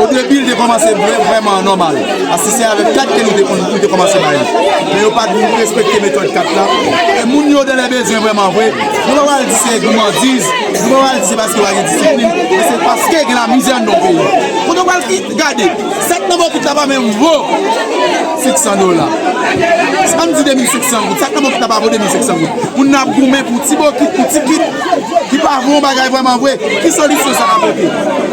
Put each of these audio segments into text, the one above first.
O debi li te kòmanse vre vrèman nòmal, paske se avèk kat ke nou te konn nou te kòmanse bay li. Men yo pat vin respekte metòd kat la. E moun yo de lè bezwen vrèman vre, nou pa pral di se goumandiz, nou pa pral di se paske yo pa gen disiplin, men se paske gen lamizè anndan peyi. Kote ou pral gade, sèk nan bokit la pa menm vo 500 dola. An di 2500 goud, sèk nan bokit la pa vo 2500 goud. Moun nan ap goumen pou ti bokit, pou ti kit ki pa vo yon bagay vrèman vre. Ki solisyon sa ka pote?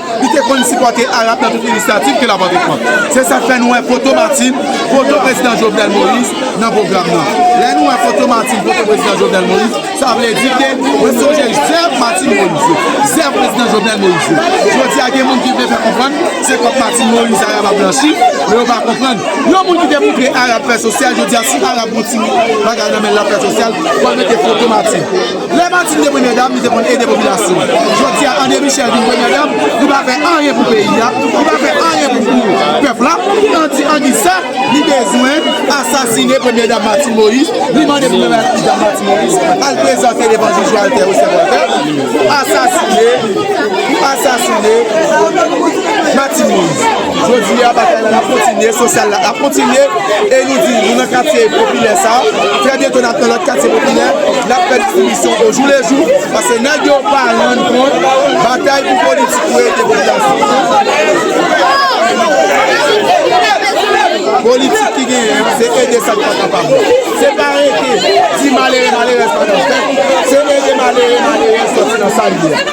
Li te konn sipòte Arab nan tout inisyativ ke l ap antreprann. Se sa k fè nou wè foto Martine, foto Prezidan Jovenel Moïse nan pwogram nan. Lè nou wè foto Martine, foto Prezidan Jovenel Moïse, sa vle di ke mwen sonje zèv Martine Moïse yo, zèv Prezidan Jovenel Moïse yo. Jodi a gen moun ki vle fè konprann se kòb Martine Moïse Arab ap blanchi, men yo pa konprann. Yon moun ki te montre Arab fè sosyal, jodi a si Arab gen yon ti bagay nan men l ap fè sosyal, fò l mete foto Martine. Lè Martine te premyè dam, li te konn ede popilasyon. Jodi a, André Michel vin premyè dam, li pa fè anyen pou peyi a, li pa fè anyen pou pèp la. Tandi angiz sa, li bezwen asasine premyè dam Martine Moïse. Li mande premyè dam Martine Moïse al prezante devan jij Walter Osè Voltè pou asasine Martine Moïse. Jodi a batay la ap kontinye, sosyal la ap kontinye e nou di nou nan katye popilè sa trè byento nap nan lòt katye popilè nap fè distribisyon o jou le jou paske nèg yo pa rann kont batay pou politik yo ede popilasyon politik ki genyen an se ede sa ki pa kapab yo se pa rete di malere malerèz pa nan fèt se ede malere malerèz sòti nan sa li ye.